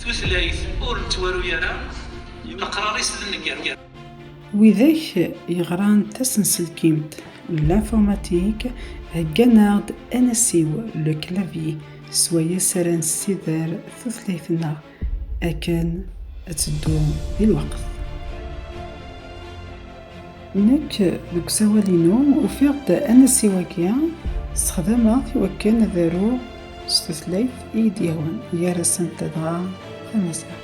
Tutlayt ur nettwaru ara, leqrar-is d nnger. Widak yeɣran tasenselkimt, l'informatique, heggan-aɣ-d anasiw, le clavier, s wayes ara nessider tutlayt-nneɣ akken ad teddu di lweqt. Nekk, deg usawal-inu, ufiɣ-d anasiw-agi, ssexdameɣ-t i wakken ad aruɣ s tutlayt i yi-d-yehwan, gar-asent dɣa tamaziɣt.